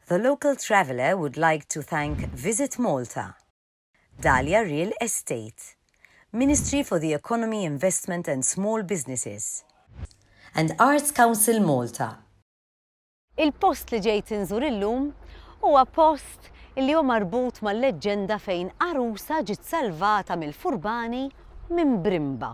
The local traveller would like to thank Visit Malta, Dahlia Real Estate, Ministry for the Economy, Investment and Small Businesses, and Arts Council Malta. Il-post li ġejt inżur illum huwa post li hu marbut mal-leġġenda fejn għarusa ġiet salvata mill-furbani minn brimba.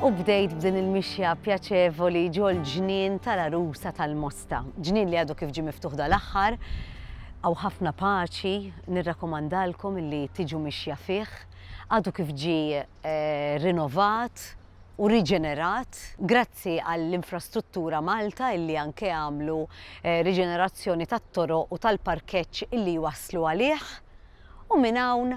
U bdejt b'din il-mixja pjaċevoli ġol-ġnien tal-għarusa tal-Mosta. Ġnien li għadu kif ġie miftuħ dal-aħħar, hawn ħafna paċi, nirrakkomandalkom illi tiġu mixja fih, għadu kif ġie rinovat u riġenerat, grazzi għal Infrastruttura Malta illi anke għamlu riġenerazzjoni tat-toroq u tal-parkeġġ illi jwasslu għalih, u minn hawn,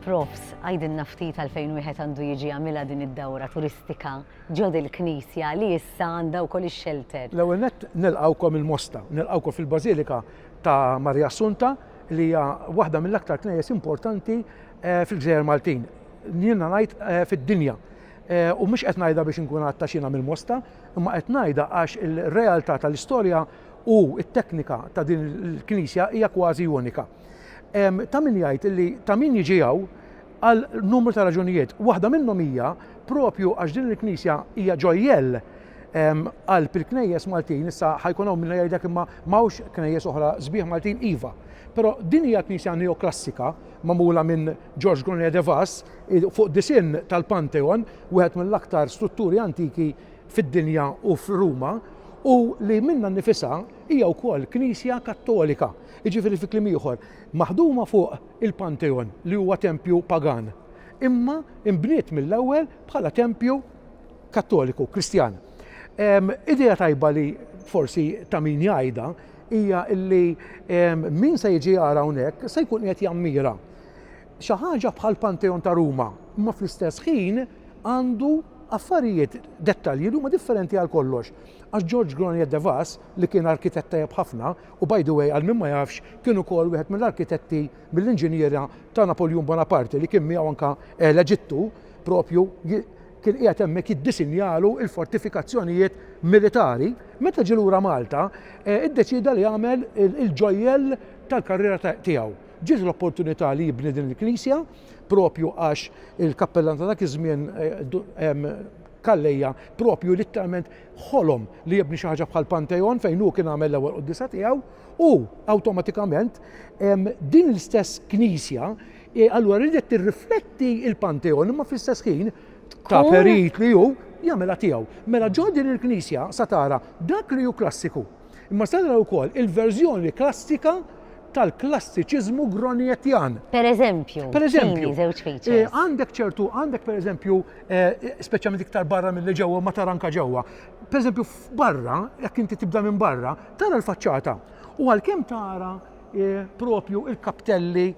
Profs, għidilna ftit għalfejn wieħed għandu jiġi jagħmilha din id-dawra turistika ġo dil-knisja li issa għandha wkoll ix-xelter? L-ewwel nett nilqgħukom il-Mosta, nilqgħukom fil-Bażilika ta' Marija Assunta li hija waħda mill-aktar knejjes importanti eh, fil-Gżejjer Maltin. Jiena ngħid eh, fid-dinja. Eh, u mhux qed ngħidha biex inkun għatta xina mill-Mosta, imma qed ngħidha għax il-realtà tal-istorja u t-teknika ta' din il-knisja hija kważi unika. Ta' min jgħid illi ta' min jiġi hawn għal numru ta' raġunijiet. Waħda minnhom hija propju għax din il-knisja hija ġojjell għal pil-knejjes Maltin, issa ħajkun hawn minna jgħidlek imma m'hawnx knejjes oħra sbieħ Maltin iva. Però din hija knisja neoklassika magħmula minn George Gonet de Vaz fuq disinn tal-Pantheon, wieħed mill-aktar strutturi antiki fid-dinja u f'Ruma, u li minnha nnifisha Hija wkoll knisja Kattolika, jiġifieri fi kliem ieħor, maħduma fuq il-Pantheon li huwa tempju pagan, imma nbniet mill-ewwel bħala tempju Kattoliku, Kristjan. Idea tajba li forsi ta' min jgħidha hija li min se jiġi jara hawnhekk se jkun qiegħed jammira xi ħaġa bħall-Pantheon ta' Ruma, imma fl-istess ħin għandu affarijiet, dettalji li huma differenti għal kollox. Għax George Granier de Vaz, li kien arkitett tajjeb ħafna, u by the way għal min ma jafx kien ukoll wieħed mill-arkitetti, mill-inġiniera ta' Napoljun Bonaparte li kien miegħu anke l-Eġittu, propju kien qiegħed hemmhekk jiddisinjalu l-fortifikazzjonijiet militari, meta ġie lura Malta iddeċieda li jagħmel il-ġojjel tal-karriera tiegħu. Ġiet l-opportunità li jibni din il-knisja, propju għax il-kappellan ta' dak iż-żmien Calleja proprju litteralment ħolom li jibni xi ħaġa bħal Pantheon fejn hu kien għamel l-ewwel quddiesa tiegħu u awtomatikament din l-istess knisja e, allura ridet tirrifletti il-Pantheon imma fl-istess ħin ta' perit li hu jagħmilha tiegħu. Mela ġo din il-knisja sa tara dak li hu klassiku Imma se naraw ukoll il-verżjoni klassika tal-klassiċiżmu Groniettian. Per eżempju, per eżempju, żewġ eh, features. Għandek ċertu, għandek per eżempju, eh, speċjalment iktar barra mill ġewwa ma tara anka ġewwa. Per eżempju, barra, jekk inti tibda minn barra, tara l-faċċata. U għalkemm tara eh, propju il-kaptelli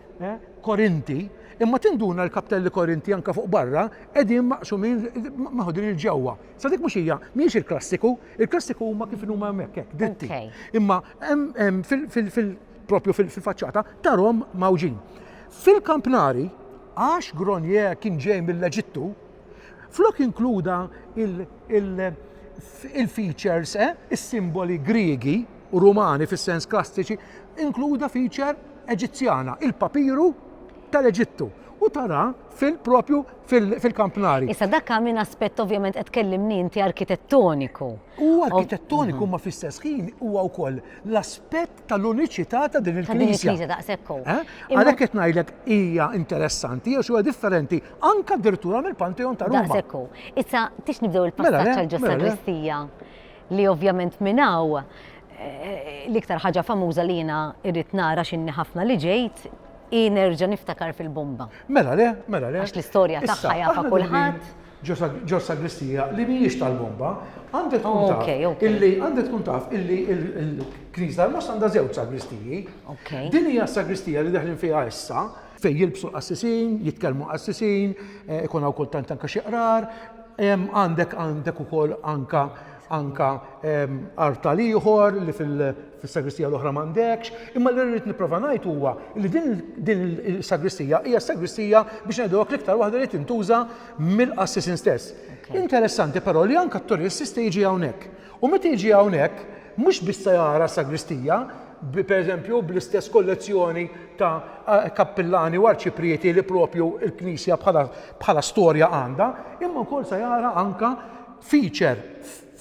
korinti, imma tinduna l-kaptelli korinti anka fuq barra, edin maqsumin maħodin il-ġewwa. Sa dik mhux hija, mhijiex il-klassiku, il-klassiku huma kif inhuma hemmhekk hekk, dritti. Okay. Imma hemm- hemm fil- fil- fil- propju fil- fil-faċċata tarhom mgħawġin. Fil-kampnari, għax Grenier kien ġej mill-Eġittu, flok inkluda il- il- il-features, eh, is-simboli Griegi u Rumani fis-sens klassiċi, inkluda feature Eġizzjana, il-papiru tal-Eġittu. u tara fil-propju fil-kampnari. Issa dak minn aspett ovvjament qed kellimni inti arkitettoniku. U arkitettoniku ma fl-istess ħin huwa wkoll l-aspett tal-uniċità ta' din il-knisja. Eh? Għalhekk qed ngħidlek hija interessanti għax huwa differenti anke addirittura mill-Pantheon ta' Roma. Daqsekku. Issa tix nibdew il-passaġġ mela, għal ġosta Kristija li ovvjament minnaw eh, l-iktar ħaġa famuża li jiena irrid nara x'inni ħafna li ġejt Hi nerġa' niftakar fil-bomba. Mela le, mela le. Għax l-istorja tagħha jafha kulħadd. Ġo sagristija li mhijiex tal-bomba, għandha tkun taf illi għandha tkun taf illi l-Knisja tal-Mosta għandha żewġ sagristiji. Din hija s-sagristija li daħlin fiha issa fejn jilbsu qassisin, jitkellmu qassisin, eh, ikun hawn kultant anke xi qrar, għandek għandek ukoll anka anke artal ieħor li fis-sagristija l-oħra m'għandekx, imma li rrid nipprova ngħid huwa li din din is-sagristija hija s-sagristija biex ngħidu hekk l-iktar waħda li tintuża mill-qassisin stess. Interessanti però li anke t-turist jista' jiġi hawnhekk. U meta jiġi hawnhekk mhux biss se jara s-sagristija, b- pereżempju bl-istess kollezzjoni ta' a- kappillani u arċiprieti li propju l-Knisja bħala, bħala storja għandha, imma wkoll se jara anke feature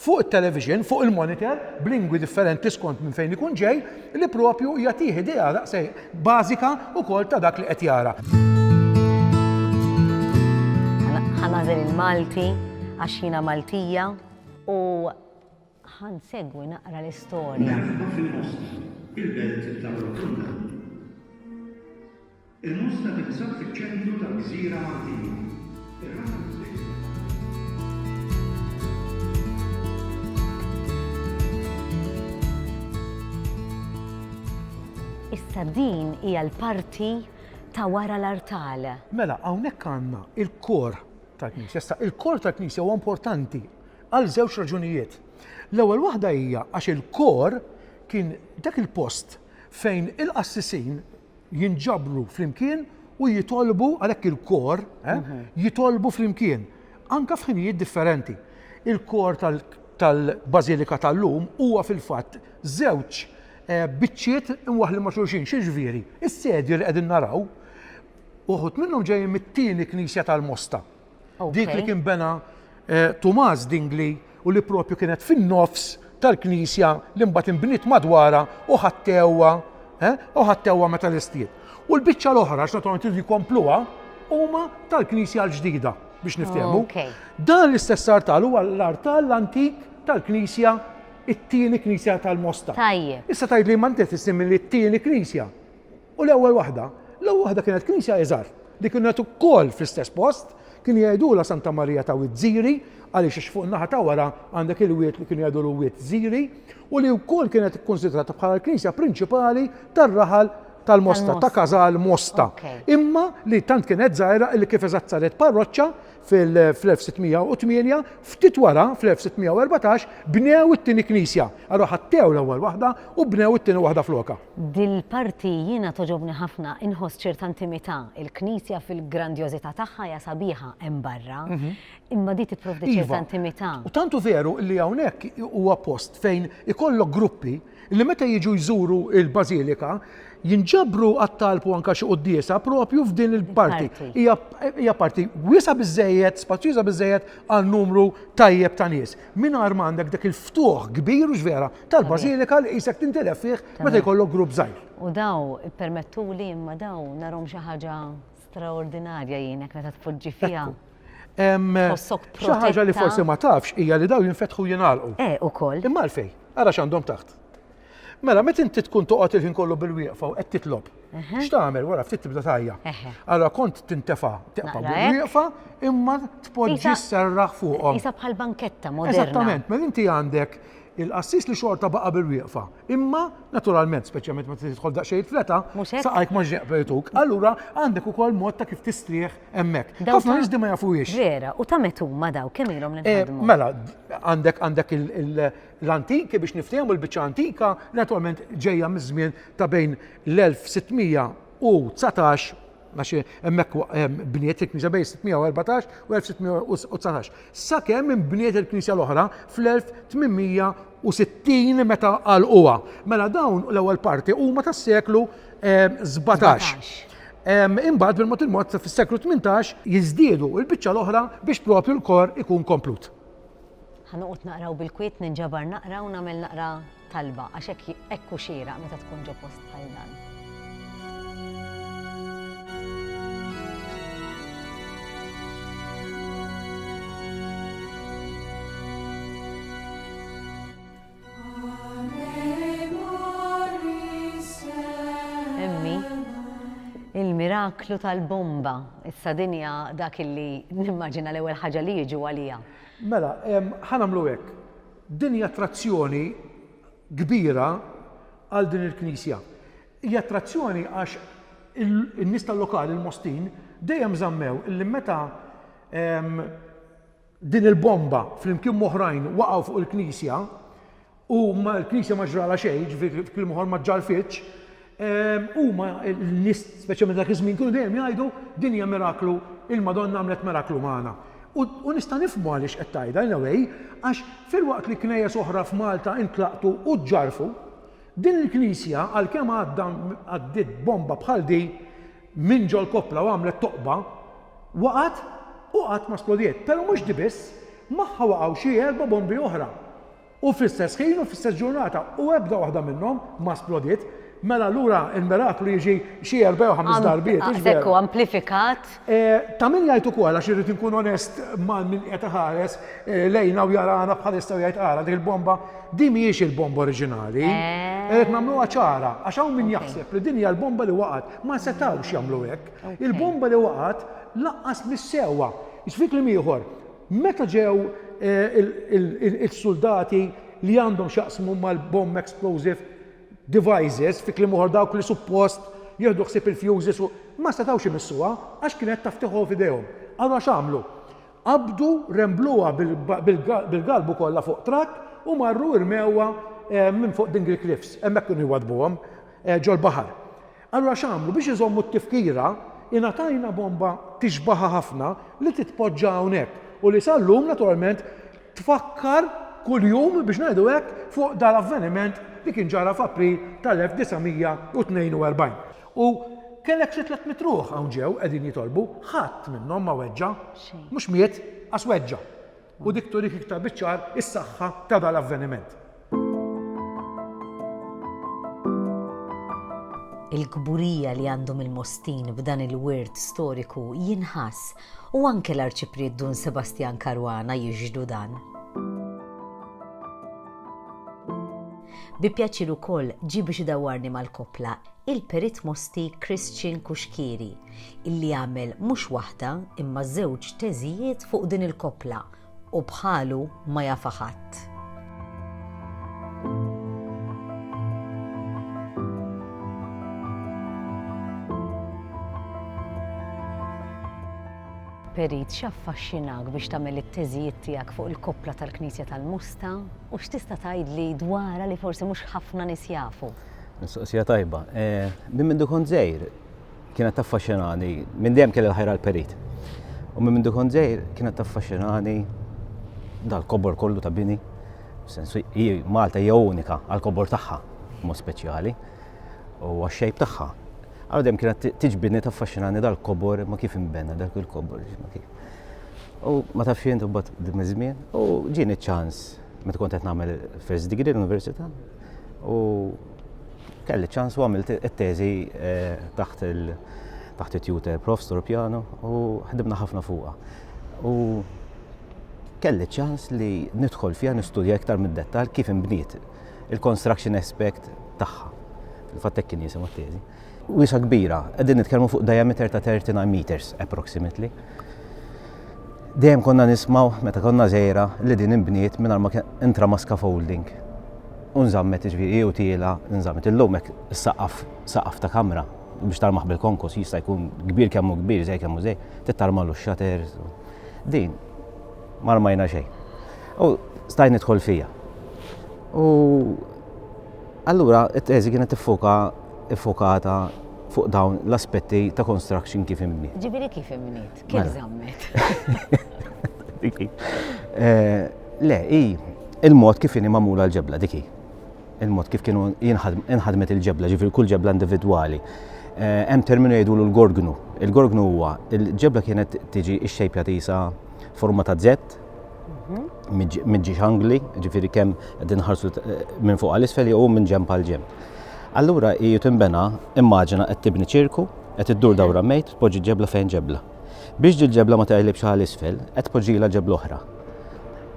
fuq it-television, fuq il-monitor, b'lingwi differenti skont minn fejn ikun ġej, li proprju jagħtih idea daqshekk bażika wkoll ta' dak li qed jara. Ħa nagħżel il-Malti għax jiena Maltija u ħa nsegwi naqra l-istorja. Nagħrifha fil-post, il-belt ta' Rotunda. Il-Mosta tinsab fiċ-ċentru tal-gżira Maltija. Ir-raba' l-gżejjer tal-Gżira. Issa din hija l-parti ta' wara l-artal. Mela hawnhekk għandna l-kor tal-knisja. Issa l-kor tal-knisja huwa importanti għal żewġ raġunijiet. L-ewwel waħda hija għax il-kor kien dak il-post fejn il-qassisin, jinġabru flimkien u jitolbu għalhekk il-kor eh, mhm. jitolbu flimkien anka f'ħinijiet differenti. Il-kor tal-Bażilika tal-lum huwa fil-fatt żewġ eh, biċċiet imwaħli ma' xulxin, xi ġviri, is-sedju li qegħdin naraw, uħut minnhom ġejjin mit-tieni knisja tal-Mosta. Dik li kien bena eh, Tumas Dingli u li propju kienet fin-nofs tal-knisja li mbagħad inbniet madwara u ħattewwa eh, u ħattewwa meta l-istiet. U l-biċċa l-oħra x'naturalment jridu jkompluha huma tal-knisja l-ġdida biex niftehmu. Dan l-istess artal huwa l-artal l-antik tal-knisja it-tieni knisja tal-Mosta. Tajjeb. Issa tgħid li ma ntef issim li t-tieni knisja. U l-ewwel waħda, l-ewwel waħda kienet knisja iżgħar li kienet ukoll fl-istess post, kienu jgħidulha Santa Marija ta' Wied Żiri għaliex għax fuq in-naħa ta' wara għandek il-wied li kienu jgħidulu Wied Żiri u li wkoll kienet ikkunsidrata bħala l-knisja prinċipali tar-raħal tal-Mosta, ta' Każal Mosta. Imma li tant kienet żgħira li kif eżatt saret parroċċa fil-1608, ftit wara fl-1614 bnew it-tieni knisja. Allura ħattew l-ewwel waħda u bnew it-tieni waħda flokha. Dil-parti jiena togħġobni ħafna, inħoss ċerta intimità, il-Knisja fil-grandjożità tagħha hija sabiħa hemm barra, imma di tipprovdi ċerta iva. intimità. U tant hu veru li hawnhekk huwa post fejn ikollok gruppi li meta jiġu jżuru l-Bażilika jinġabru għat-talb u anka xi quddiesa propju f'din il-parti. Hija parti wiesa' biżejjed, spazjuża biżejjed għal numru tajjeb ta' nies. mingħajr ma għandek dak il-ftuħ kbir u x'vera tal-bażilika li qisek tintilef fih meta jkollok grupp żgħir. U daw, ippermettuli imma daw narhom xi ħaġa straordinarja jien hekk meta tpoġġi fiha. Xi ħaġa li forsi ma tafx hija li daw jinfetħu jingħalqu. Eh, ukoll. Imma għalfejn? Ara x'għandhom taħt. Mela, met inti tkun toqgħod il-ħin kollu bil-wieqfa u qed titlob. X'tagħmel wara ftit tibda tajja. Allora kont tintefa' teqfa' bil-wieqfa imma tpoġġi serraħ fuqhom. Isa bħal banketta moderna. Eżattament, mela inti għandek il-qassis li xorta baqa' bil-wieqfa. Imma naturalment, speċjalment meta tidħol daqsxejn fleta, saqajk ma ġeqbetuk. Allura għandek ukoll mod ta' kif tistrieħ hemmhekk. Ħafna nies ma jafuhiex. Vera, u ta' metu ma daw kemm ilhom li eh, Mela, għandek għandek il- l-antiki biex niftehmu l-biċċa antika li naturalment ġejja miż-żmien ta' bejn l-1619 għax hemmhekk bniet il-Knisja bejn 614 u 1619. Sakemm inbniet il-Knisja l-oħra fl-1860 meta għalquha. Mela dawn l-ewwel parti huma tas-seklu 17. Imbagħad bil-mod il-mod fis-seklu 18 jiżdiedu l-biċċa l-oħra biex propju l-kor ikun komplut. Ħa noqgħod naqra u bil-kwiet ninġabar naqra u nagħmel naqra talba għax hekk hekk hu xieraq meta tkun ġo post bħal dan. miraklu tal-bomba. Issa dinja dak illi nimmaġina l-ewwel ħaġa li jiġu għalija. Mela, ħa nagħmlu hekk. Din hi attrazzjoni kbira għal din il-knisja. Hija attrazzjoni għax in-nies tal-lokal, il-Mostin, dejjem żammew illi meta din il-bomba flimkien m'oħrajn waqgħu fuq il-knisja, u l-Knisja ma ġralha xejn, jiġifieri f'kliem ieħor ma ġġarrfitx, huma n-nies speċjalment dak iż-żmien kienu dejjem jgħidu din hija miraklu, il-Madonna għamlet miraklu magħna. U nista' nifhmu għaliex qed tgħidha in a way, għax filwaqt li knejjes oħra f'Malta intlaqtu u ġġarrfu, din il-Knisja għalkemm għadda għaddiet bomba bħal di minn ġol-koppla u għamlet toqba, waqgħet u qatt ma splodiet. Però mhux di biss, magħha waqgħu xi erba' bombi oħra. U fl-istess ħin u fl-istess ġurnata, u ebda waħda minnhom ma splodiet, mela allura l-miraklu jiġi xi erba' jew ħames darbiet, hux veru? Hekk hu, amplifikat. Ta' min jgħid ukoll, għax irrid inkun onest ma' min qed iħares lejna u jarana bħalissa u jgħid ara dik il-bomba, din mhijiex il-bomba oriġinali. Irrid nagħmluha ċara, għax hawn min jaħseb li din hija l-bomba li waqgħet. Ma setgħux jagħmlu hekk. Il-bomba li waqgħet lanqas mhix sewwa. X'fi kliem ieħor, Meta ġew is-suldati li għandhom x'jaqsmu mal-bomb explosive devices, fi kliem ieħor dawk li suppost jieħdu ħsieb il-fuses u, ma setgħux imissuha għax kienet taf tieħu f'idejhom. Allura x'għamlu? Qabdu, rembluha bil-galbu kollha fuq trakk u marru rmewha minn fuq Dingle Cliffs, hemmhekk kienu jwaddbuhom, ġol-baħar. Allura x'għamlu? Biex iżommu t-tifkira, ingħatajna bomba tixbaħha ħafna li titpoġġa hawnhekk u li sal-lum naturalment tfakkar kuljum biex ngħidu hekk fuq dal-avveniment li kien ġara f'April tal-1942. U kellek xi tliet mitt ruħ hawn ġew qegħdin jitolbu, ħadd minnhom ma weġġa'. Xejn. Mhux miet, qas weġġa'. U dik turik iktar biċ-ċar is-saħħa ta' dal-avveniment. Il-kburija li għandhom il-Mostin b'dan il-wirt storiku jinħass u anke l-Arċipriet Dun Sebastjan Caruana jixhdu dan. Bi pjaċir ukoll ġie biex idawwarni mal-koppla il-Perit Mosti Christian Cuschieri, illi għamel mhux waħda imma żewġ teżijiet fuq din il-koppla u bħalu ma jafha ħadd. Perit, x'affaxxinak biex tagħmel it-teżijiet tiegħek fuq il-koppla tal-Knisja tal-Musta u x'tista' tgħidli dwarha li forsi mhux ħafna nies jafu? Mistoqsija tajba. Eh, minn mindu kont żgħir, kienet taffaxxinani, minn dejjem kelli l-ħajra l-perit. U minn mindu kont żejr kienet taffaxxinani dal-kobor kollu ta' bini. Sensu, Malta hija unika għal-kobor tagħha, mod speċjali, u għax-xejb tagħha. Għal dejjem kienet tiġbidni taffaxxinani dal-kobor ma kif inbena dak il-kobor. U ma tafx jien tibgħat dim iż-żmien u ġieni ċans meta kont qed nagħmel first degree l-università u kelli ċans u għamilt it-teżi eh, taħt il- taħt it-tutor prof Storpjano u ħdibna ħafna fuqha. U kelli ċans li nidħol fiha nistudja iktar mid-dettal kif inbniet il-construction aspect tagħha. Il-fattek kien jisimha t-teżi. Wiesgħa kbira, qegħdin nitkellmu fuq diameter ta' 39 meters approximately. Dejjem konna nismaw meta konna żejra li din inbniet mingħajr ma intra ma scaffolding. U nżammet ġifieri u tiela nżammet illum hekk saqaf saqaf ta' kamra biex tarmaħ bil-konkos jista' jkun kbir kemm hu kbir, żej kemm hu żej, tittarmalu x-xater. Din ma rmajna xejn. U stajt nidħol fija. U allura it-teżi kienet tiffuka iffokata fuq dawn l-aspetti ta' construction kif imniet. Ġifieri kif imniet? Kif mela. żammet? Eh, le, i il-mod kif inhi magħmula l-ġebla diki. Il-mod kif kienu jinħadmet il-ġebla, ġifieri kull ġebla individwali. Eh, hemm terminu jgħidu l-gorgnu. Il-gorgnu huwa il-ġebla kienet tiġi x-xejpja tisa forma ta' zett minn ġiex angli, ġifiri kemm qegħdin ħarsu eh, minn fuq għal isfel jew minn ġemp għal ġemp. Allura hi tinbena immaġina qed tibni ċirku, qed iddur dawra mejt, tpoġġi ġebla fejn ġebla. Biex ġil ġebla ma tgħajlibx għal isfel, qed tpoġġila ġebla oħra.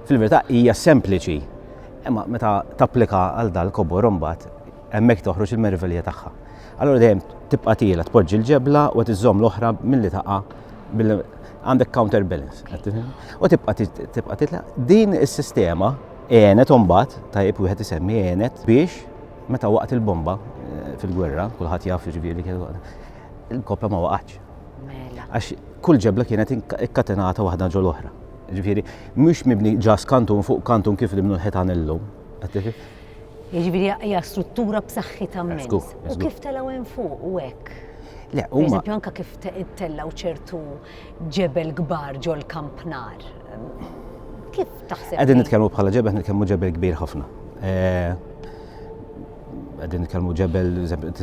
Fil-verità hija sempliċi, imma meta tapplika għal dal kobor imbagħad Hemmhekk toħroġ il-merivelija tagħha. Allura dejjem tibqa' tiela, tpoġġi l-ġebla u qed iżżomm l-oħra milli taqa' għandek counterbalance. U tibqa' tibqa' titla' din is-sistema għenet mbagħad tajjeb wieħed isemmi għenet biex meta waqt il-bomba eh, fil-gwerra, kulħadd jaf ġifieri il-kopja ma waqgħatx. Mela. Għax kull ġebla kienet ikkatenata waħda ġol oħra. Ġifieri, mhux mibni ġas kantun fuq kantun kif li minnu l-ħetan illum. Jiġifieri hija struttura b'saħħitha immens. U kif telgħu hemm fuq u hekk? Le, huma. Eżempju, anke kif tellgħu ċertu ġebel kbar ġol kampnar. Kif taħseb? Qegħdin nitkellmu bħala ġebel, nitkellmu ġebel kbir ħafna. Eh, qegħdin nitkellmu ġebel,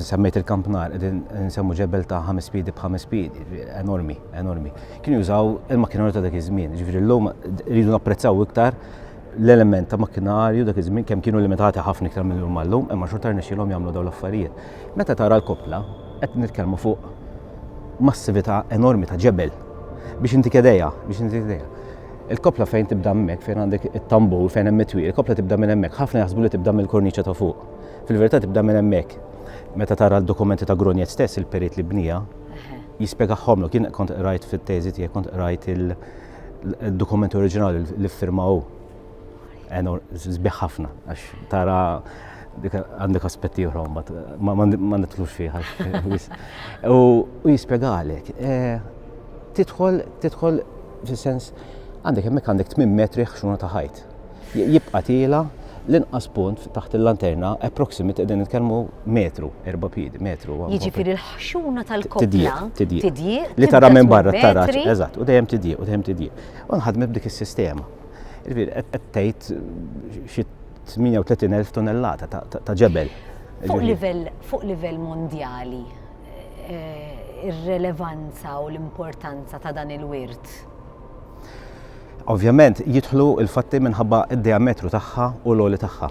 semmejt il-kampnar, qegħdin nsemmu ġebel ta' ħames pidi b'ħames pidi, enormi, enormi. Kienu jużaw il-makinarju ta' dak iż-żmien, ġifieri llum rridu napprezzaw iktar l-element ta' makkinarju dak iż-żmien kemm kienu limitati ħafna iktar mill lum għallum, imma xorta rnexxilhom jagħmlu dawn l-affarijiet. Meta tara l-koppla, qed nitkellmu fuq massività enormi ta' ġebel biex inti kedejja, biex inti kedejja. Il-koppla fejn tibda hemmhekk, fejn għandek it-tambur, fejn hemm it-twil, il-koppla tibda minn hemmhekk, ħafna jaħsbu li tibda mill-korniċa ta' fuq. Fil-verità tibda minn hemmhekk. Meta tara l-dokumenti ta' Grunjet stess, il-perit li bnija, jispjegahomlu, kien kont qrajt fit-teżi tiegħek, kont qrajt il- Dokumenti oriġinali li firma u għenu zbiħ ħafna, għax tara għandek aspetti uħrom, ma nitlux fiħa. U jispiegalek, eh, titħol, titħol, fil-sens, għandek hemmhekk għandek 8 metri ħxuna ta' ħajt. jibqa' tiela' l-inqas punt taħt il-lanterna approximate qegħdin nitkellmu metru, erba' piedi, metru. Jiġifieri l-ħxuna tal-koppla tidjieq. Li tara minn barra tara. Eżatt, u dejjem tidjieq, u dejjem tidjieq. U nħadmet b'dik is-sistema. Qed tgħid xi 38,000 tonnellata ta' ġebel. Fuq livell mondjali, eh, ir-relevanza u l-importanza ta' dan il-wirt? Ovvjament jidħlu l-fatti minħabba d-diametru tagħha u l-għoli tagħha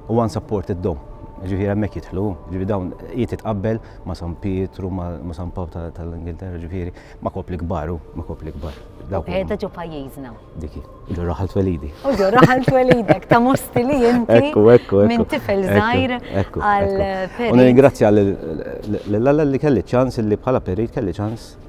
u unsupported dome. Ġifieri hemmhekk jidħlu, ġifieri dawn jiet titqabbel ma' San Pietru, ma' San Pawl tal-Ingilterra, ġifieri ma' kopli kbar hu, ma' kopli kbar. Qiegħda ġo pajjiżna. Diki, ġo raħal twelidi. U ġo raħal twelidek ta' mosti li inti. Ekku, ekku, ekku. Minn tifel żgħir għal. U nirringrazzja lil Alla li kelli ċans li bħala perit kelli ċans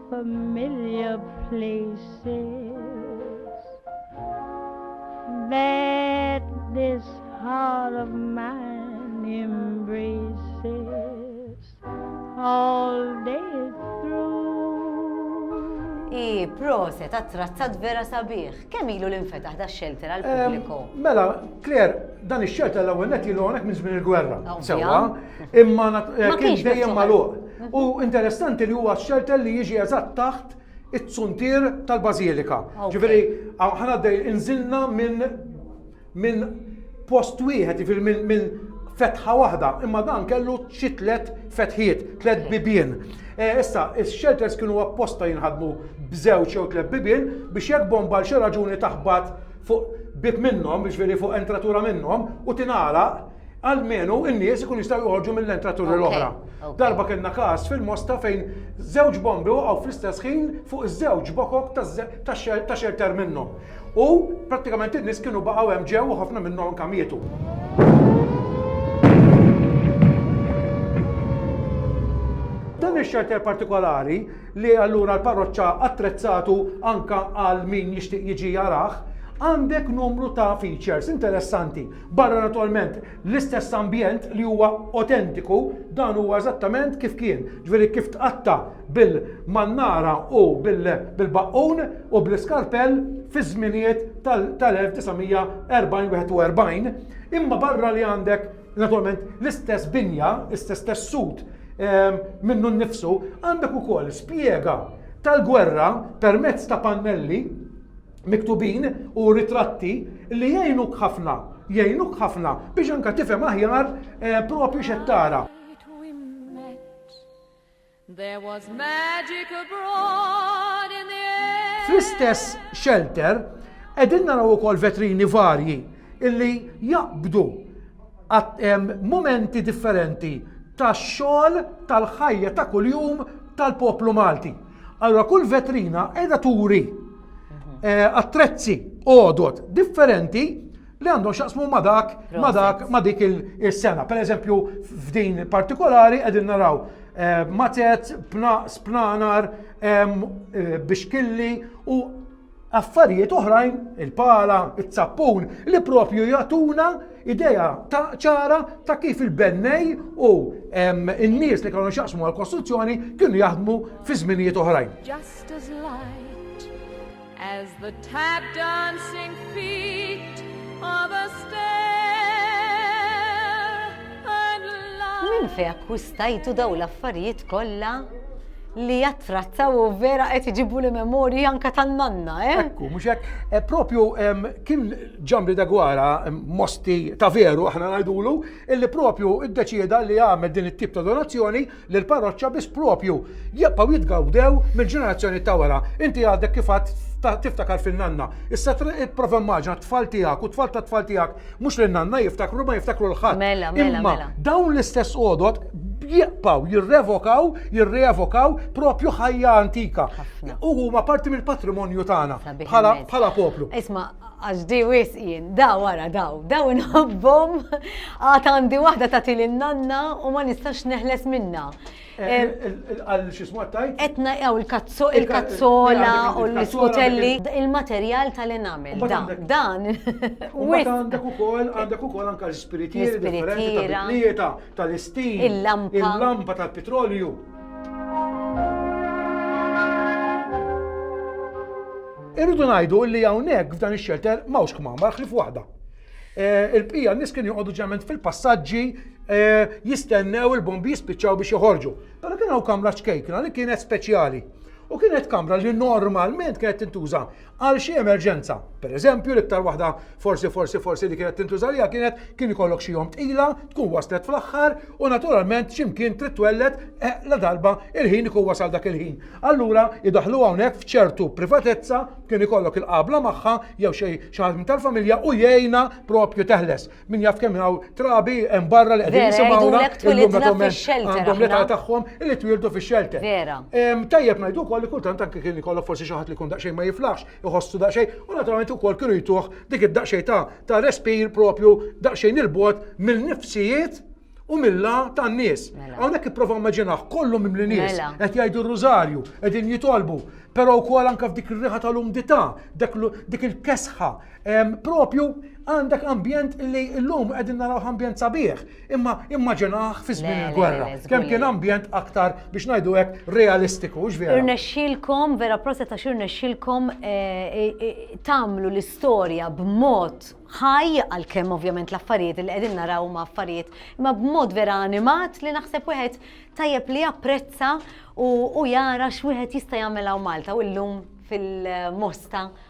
Familiar places that this heart of mine embraces all day I prose ta' trazzat vera sabiħ. Kemm ilu l-infetaħ da' xelter għal pubbliku? Mela, Claire, dan ix-xelter l-ewwel net ilu hawnhekk minn żmien il-gwerra. Sewwa. Imma kien dejjem magħluq. U interessanti li huwa xelter li jiġi eżatt taħt it-suntier tal-Bażilika. Ġifieri, ħana dej inżilna minn minn post wieħed, ġifieri minn fetħa waħda, imma dan kellu xi tliet fetħiet, tliet bibien. E, issa, is-shelters kienu apposta jinħadmu b'żewġ jew tliet bibien biex jekk bomba l xi raġuni taħbat fuq bib minnhom, biex veri fuq entratura minnhom, u tingħalaq Almenu n-nies ikun jistgħu joħorġu mill-entraturi l-oħra. Darba kellna każ fil-Mosta fejn żewġ bombi waqgħu fl-istess ħin fuq iż-żewġ bokok ta' xerter minnhom. U prattikament in-nies kienu baqgħu hemm ġew u ħafna minnhom anke mietu. Dan ix-xerter partikolari li allura l-parroċċa attrezzatu anka għal min jixtieq jiġi jarah, għandek numru ta' features interessanti. Barra naturalment l-istess ambjent li huwa otentiku, dan huwa eżattament kif kien, ġveri kif tqatta bil-mannara u bil-baqqun u bl-iskarpell fi żminijiet tal-1940-41, imma barra li għandek naturalment l-istess binja, l-istess tessut ehm, minnu nnifsu, għandek ukoll spjega tal-gwerra permezz ta' pannelli miktubin u ritratti li jgħinuk ħafna, jgħinuk ħafna biex anke tifhem aħjar eh, propju x'qed tara. There was magic abroad in the air. Fl-istess shelter, edin naraw ukoll vetrini varji illi jaqbdu momenti differenti tax-xogħol tal-ħajja ta' kuljum tal-poplu Malti. Allora kull vetrina qiegħda turi eh, attrezzi għodot differenti li għandhom xaqsmu ma dak ma dak ma dik il-sena. Per eżempju, f'din partikolari qegħdin naraw eh, matet, spnanar, eh, bixkilli u Affarijiet oħrajn, il-pala, iz-zappun, li propju jagħtuna idea ta' ċara ta' kif il-bennej u n-nies li kellhom xaqsmu għal-kostruzzjoni kienu jaħdmu fi żminijiet oħrajn. Just as light as the tap dancing feet of a Minn fejn akkwistajtu daw l-affarijiet kollha li jattrattaw u vera qed iġibu li memorji anka tan-nanna, eh? Ekku, mhux hekk. Eh, propju kien ġambri degwara mosti ta' veru aħna ngħidulu, illi propju iddeċieda li għamel din it-tip ta' donazzjoni lill-parroċċa biss proprju jibqgħu jitgawdew mill-ġenerazzjoni ta' wara. Inti għadek kif għad tiftakar fin-nanna. Issa prova immaġna t-tfal tiegħek u t-tfal ta' tfal tiegħek mhux lin nanna jiftakru ma jiftakru l-ħadd. Mela, mela, Imma mela. dawn l-istess għodot jibqgħu jirrevokaw, jirrevokaw propju ħajja antika. U huma parti mill-patrimonju tagħna bħala poplu. Isma' Għax di wisq jien, daw ara daw, daw inħobbhom, għad għandi waħda tagħti lil nanna u ma nistax neħles minnha. Għal xismu għattajt? Etna għaw il-kazzola u l-skutelli. Il-materjal tal-enamel. Dan. Għandek u kol, għandek u kol anka l-spiritieri, l-spiritiera, tal-istin, il-lampa tal-petrolju. Irridu ngħidu li hawnhekk f'dan ix-xelter m'hawnx kmamar ħlief waħda. Eh, il-bqija nies kienu joqogħdu ġeneralment fil-passaġġi eh, jistennew il-bombi jispiċċaw biex joħorġu. Però kien hawn kamra ċkejkna li kienet speċjali. U kienet kamra li normalment kienet tintuża għal xi emerġenza. Per eżempju, l-iktar waħda forsi forsi forsi li kienet tintuża li kienet kien ikollok xi jom tqila, tkun waslet fl-aħħar U naturalment x'imkien trid twelled eh, la darba il-ħin ikun wasal dak il-ħin. Allura idaħlu hawnhekk f'ċertu privatezza kien ikollok il-qabla magħha jew xi ħadd tal-familja u jgħinha propju teħles. Min jaf kemm hawn trabi hemm barra li qegħdin jisimgħuna illum għandhom l-età tagħhom li twildu fix-xelter. Tajjeb ngħidu wkoll li kultant anke kien ikollok forsi xi ħadd li kun daqsxejn ma jiflaħx, iħossu daqsxejn u naturalment ukoll kienu jtuh dik id-daqsxejn ta' ta' respir propju daqsxejn il-bot mill-nifsijiet u milla tan-nies. Mela. Hawnhekk ipprova immaġinaħ kollu mimli nies Mela. qed jgħidu r-rużarju, qegħdin jitolbu, però wkoll anke f'dik ir-riħa tal-umdità, dak l- dik il-kesħa, em, propju għandek ambjent li llum qegħdin naraw ambjent sabiħ. Imma immaġinah fi żmien il-gwerra. Kemm kien ambjent aktar biex ngħidu hekk realistiku, x'vera. Irnexxilkom vera prosa ta' xirnexxilkom eh, eh, eh, tagħmlu l-istorja b'mod ħaj għal kemm ovvjament l-affarijiet li qegħdin naraw ma' affarijiet, imma b'mod vera animat li naħseb wieħed tajjeb li japprezza u jara x'wieħed jista' jagħmel hawn Malta u llum fil-mosta